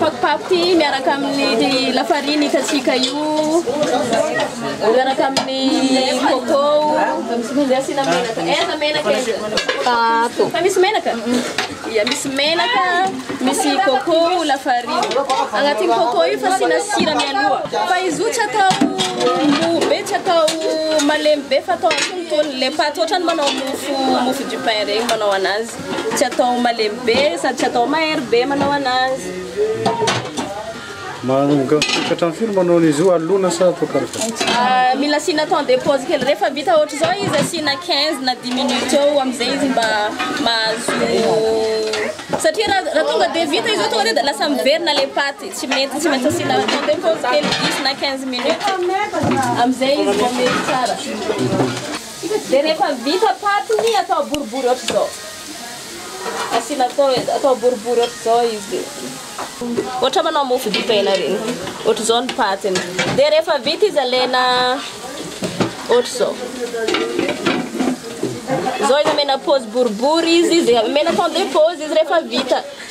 Paty paty miaraka amin'ny lafariny hitantsika io, miaraka amin'ny coco, dia asiana menaka. Aiza menaka aiza? Ato. Fa misy menaka? Ia, misy menaka, misy coco, lafariny. Agnatin'ny coco io fa asiana sira mialoha. Fa izy io tsy atao mou be, tsy atao malemy be fa atao antonontonony ilay paty, ohatran'ny manao mofo mofo du pain regny manao anazy. Tsy atao malemy be sady tsy atao mahery be manao anazy. Manomboka hatramin'ny firy manao an'izy io? Alona sa atao karakara? Mila asiana temps de pause kely. Rehefa vita ohatr'izao izy asiana quinze na dix minutes eo amin'izay izy mba mahazo satria raha raha tonga dia vita izy io tonga dia lasa miverina ilay paty. Tsy mety, tsy maintsy asiana temps de pause kely dix na quinze minutes amin'izay izy vao mety tsara. Dia rehefa vita paty ny atao boribory ohatr'izao. Asiana atao edy, atao boribory ohatr'izao izy. Ohatra manao mofo dipaina ireny. Ohatr'izao ny patiny. Dia rehefa vita izy alaina ohatr'izao. Izao izy amena paozy boribory izy, izay amena temps de pause izy rehefa vita.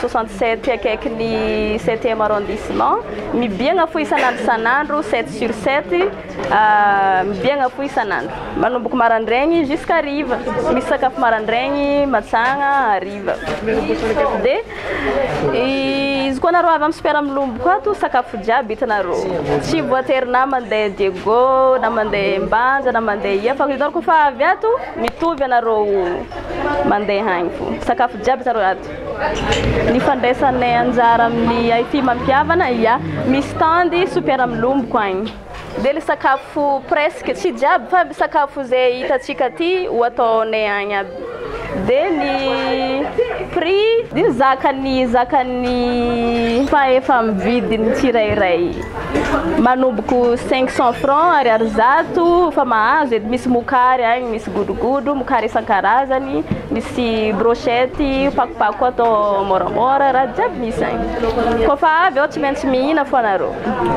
Soixante sept akaiky ny septième arrondissement, mibiagna fo isan'andro isan'andro, sept sur sept, mibiagna fo isan'andro. Manomboka marandraigny jusqu'à hariva, misy sakafo marandraigny, matsagna, hariva. Dia izy koa nareo avy amin'ny super milomboko ato, sakafo jiaby hitanareo. Tsy voatery na mandeha Diego na mandeha Mbanja na mandeha ia fa hitanareo koa fa avy ato mitovy ianareo mandeha agny fo. Sakafo jiaby hitanareo ato. Ny fandraisanay anjara amin'ny it mampihavana, ia, misy tandy super amin'ny lomboko agny. Dia le sakafo presque, tsy jiaby fa sakafo zay hitantsika aty ho ataonay agny aby. Dia ny prix, dia ny zakan'ny zakan'ny mpahefa mividy ny tsirairay. Manomboka cinq cent francs ariary zato efa mahazo e, misy mokary agny, misy godrogodro, mokary isan-karazany, misy brochette, pakopako atao môramôra, raha jiaby misy agny, kôfa avy ao tsy maintsy mihina fô anareo.